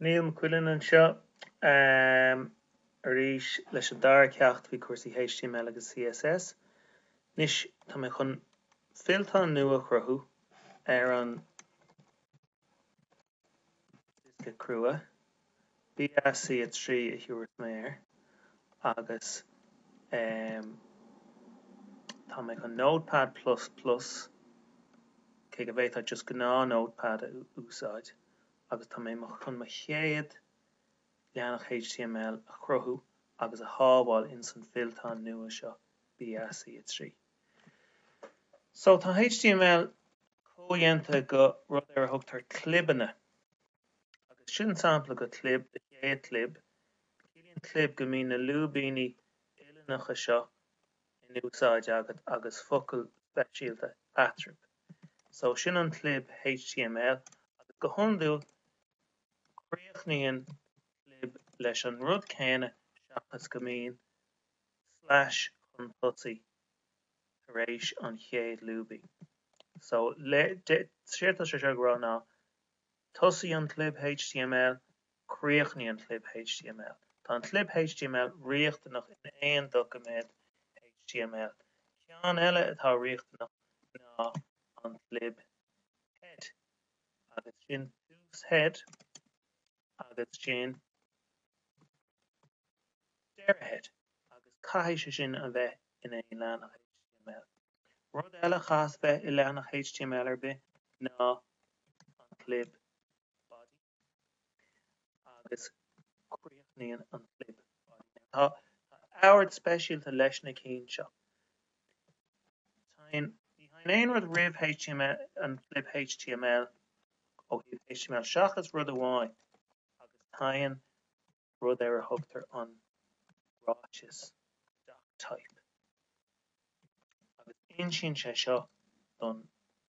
Niall Mac Uidhilin anseo arís leis an dara ceacht faoi chúrsaí html agus CSS. Anois tá mé chun fillteán nua a chruthú ar an diosca crua. BSC 3 a thabharfas mé air agus tá mé chun Notepad plus plus, cé go bhféadfá just gnáth Notepad a úsáid, agus tá mé chun mo chéad leathanach html a chruthú agus a shábháil in san fillteán nua seo BSC 3. So tá html comhdhéanta go rud ar a thugtar clibeanna. Agus sin sampla go clib an chéad clib. Ciallaíonn clib go mbíonn na lúibíní uilleannacha seo in úsáid agat agus focail speisialta eatrub. So, sin an clib html agus go hiondúil críochnaíonn clib leis an rud céanna seachas go mbíonn slash chun tosaigh tar éis an chéad lúibín. So, séard tá sé seo ag rá ná Tosaigh an clib html Críochnaigh an clib html Tá an clib html riachtanach in aon doiciméad html. Ceann eile atá riachtanach ná an clib head agus sin tús head agus sin deireadh head agus caithfidh sé sin a bheith in aon leathanach html. Rud eile a chaithfeas a bheith i leathanach html ar bith ná an clib body agus críochnaíonn an clib body. Now tá tá ord speisialta leis na cinn seo. Teigheann ní theigheann aon rud roimh html an clib html ó thaobh html seachas rud amháin agus teigheann rud ar a thugtar an ráiteas doctype, agus insíonn sé seo don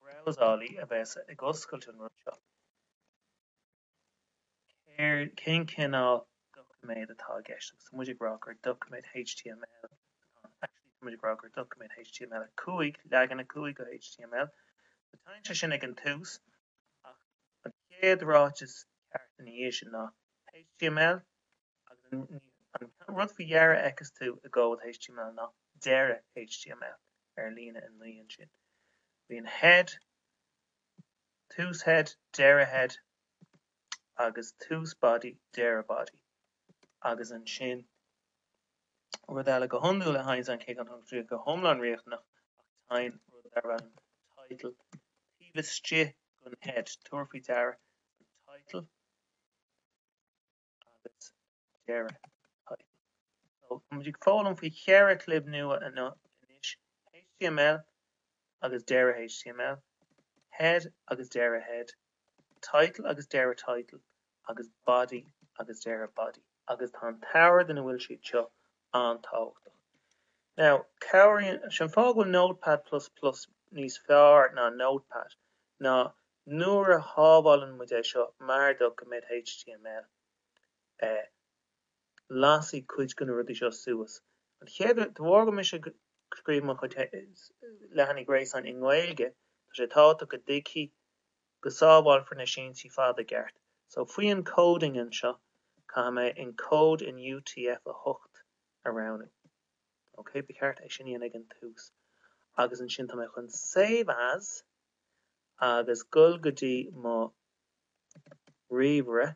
brabhsálaí a bheas ag oscailt an rud seo céard, cén cineál doiciméad atá i gceist agus tá muid ag rá gur doiciméad html atá ann. Actually, tá muid ag rá gur doiciméad HTML5, leagan 5 go HTML. So teigheann sé sin ag an tús, ach an chéad ráiteas ceart ina dhiaidh sin ná html agus an rud faoi dheireadh a fheicfidh tú i gcomhad html ná deireadh html ar líne 9 ansin. Bíonn head, tús head, deireadh head agus tús body, deireadh body agus ansin rud eile go hiondúil a théann, cé nach bhfuil sé go hiomlán riachtanach ach téann rud darb ainm title taobh istigh den head, tabhair faoi deara an title agus deireadh title. So tá muid ag foghlaim faoi cheithre chlib nua anois, html agus deireadh html, head agus deireadh head, title agus deireadh title agus body agus deireadh body. Agus tá an t-ord ina bhfuil siad seo an-tábhachtach. Now, cabhraíonn, sin fáth go bhfuil Notepad plus plus níos fearr ná Notepad ná nuair a shábháileann muid é seo mar doiciméad html, eh, lasfaidh cuid de na rudaí seo suas. OK, de bharr go mbeidh mise ag scríobh mo chuid leathanach gréasáin i nGaeilge, tá sé tábhachtach go dtí go sábháilfear na síntí fada i gceart. So, faoi encoding anseo, caithfidh mé encode in UTF-8 a roghnú. OK, ba cheart é sin a dhéanamh ag an tús. Agus ansin, tá mé chun save as agus goil go dtí mo ríomhaire.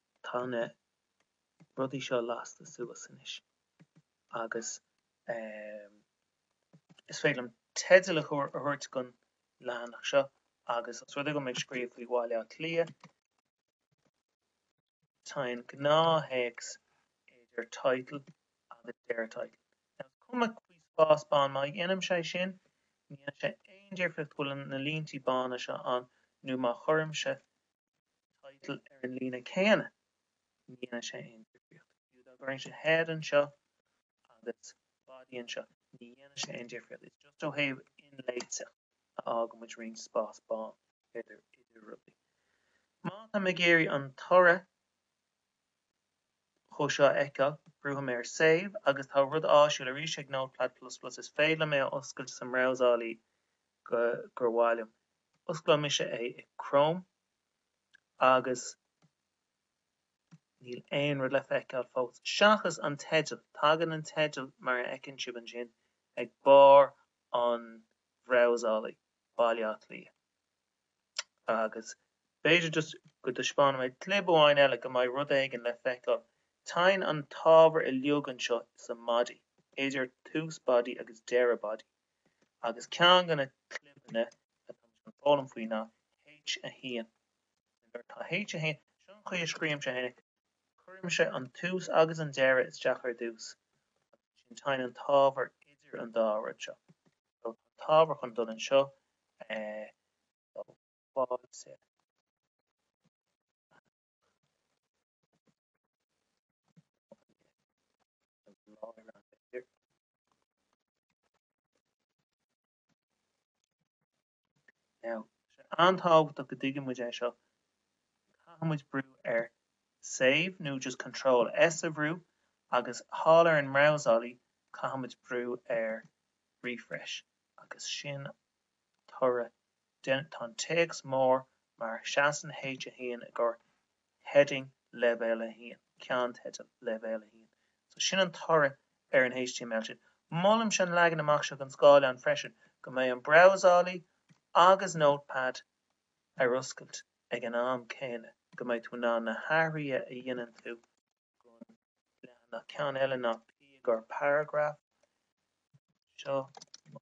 tá na rudaí seo lasta suas anois agus is féidir liom teideal a thabhairt don leathanach seo agus os rud é go mbeidh mé ag scríobh faoi Bhaile Átha Cliath tá an gnáth-théacs idir title agus deireadh title. Now is cuma faoi spás bán má dhéanaim sé sin ní dhéanann sé aon difríocht an bhfuil na línte bána seo ann nó má chuirimse title ar an líne céanna, ní dhéanann sé aon difríocht. Fiú dá gcuirfinnse head anseo agus body anseo, ní dhéanann sé aon difríocht. Is just ó thaobh inléiteacht a fhágann muid roinnt spás bán idir rudaí. Má tá mé ag iarraidh an toradh go dtí seo a fheiceáil, brúfaidh mé ar save agus tá rud áisiúil arís ag Notepad plus plus, is féidir liom é a oscailt sa mbrabhsálaí gur mhaith liom. Osclóidh mise é i Chrome agus níl aon rud le feiceáil fós seachas an teideal. Tagann an teideal mar a fheiceann sibh ansin ag barr an bhrabhsálaí, Baile Átha Cliath. Agus b'fhéidir just go dtaispeánfaidh mé clib amháin eile go mbeidh rud éigin le feiceáil. Téann an t-ábhar uiliug anseo sa mbody, idir tús body agus deireadh body. agus ceann de na clibeanna atá mé chun foghlaim faoi ná H1. Nuair atá H1, seo an chaoi a scríobhaimse é, cuirimse an tús agus an deireadh isteach ar dtús agus ansin téann an t-ábhar idir an dá rud seo. So tá an t-ábhar chun dul anseo, eh, so fáilte. an-tábhachtach go dtuigeann muid é seo. Caithfidh muid brú ar save nó just control S a bhrú agus thall ar an mbrabhsálaí caithfidh muid brú ar refresh agus sin toradh den Tá an téacs mór mar Seasann H1 i gcomhair heading leibhéal 1, ceannteidil leibhéal 1. So sin an toradh ar an html sin. Molaimse an leagan amach seo don scáileán freisin, go mbeadh an brabhsálaí agus Notepad ar oscailt ag an am céanna go mbeadh tú in ann na hathruithe a dhéanann tú don leathanach ceann eile ná P i gcomhair paragraph, seo mo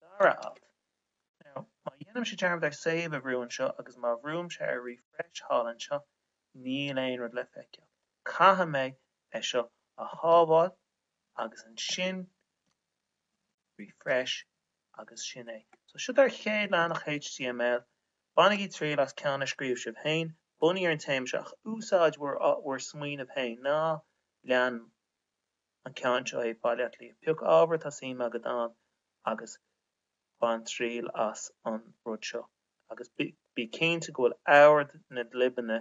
dara alt. Now, má dhéanaimse dearmad ar save a bhrú anseo agus má bhrúimse ar refresh thall anseo, níl aon rud le feiceáil. Caithfidh mé é seo a shábháil agus ansin refresh agus sin é. So, seo do chéad leathanach html. Bainigí triail as ceann a scríobh sibh féin bunaithe ar an téama seo ach úsáid bhur smaoineamh féin. Ná lean mo. an ceann seo é Baile Locha Riach. Pioc ábhar atá suim agat ann agus bain triail as an rud seo agus bí cinnte go bhfuil ord na gclibeanna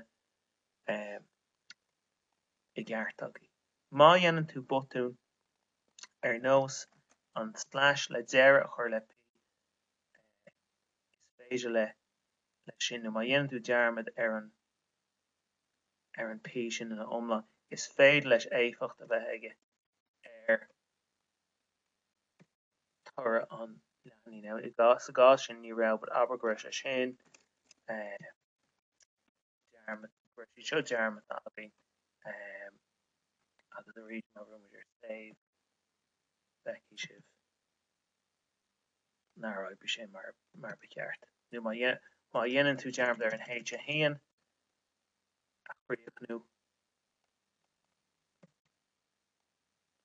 i gceart agat. Má dhéanann tú botún, ar nós an tslais le deireadh a chur le P, is féidir leis sin, nó má dhéanann tú dearmad ar an. ar an P sin ina iomlán, is féidir leis éifeacht a bheith aige ar thoradh an leathanaigh. Now, i gcás, sa gcás sin, ní raibh, but abair go raibh sé sin, eh, dearmad, go raibh siad seo dearmadta againn, eh, agus arís, má bhrúnn muid ar save, feicfidh sibh nár oibrigh sé mar ba cheart nó má dhéanann tú dearmad ar an H1 a chríochnú,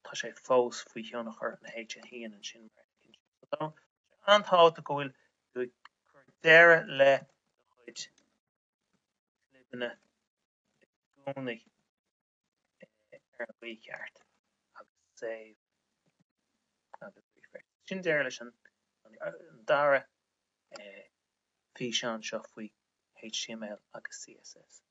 tá sé fós faoi thionchar an H1 ansin mar a thuigeann sé. Tá sé an-tábhachtach go bhfuil tú ag cur deireadh le do chuid clibeanna i gcónaí. ar an gcaoi cheart agus save agus refresh. Sin deireadh leis an dara físeán seo faoi HTML agus CSS.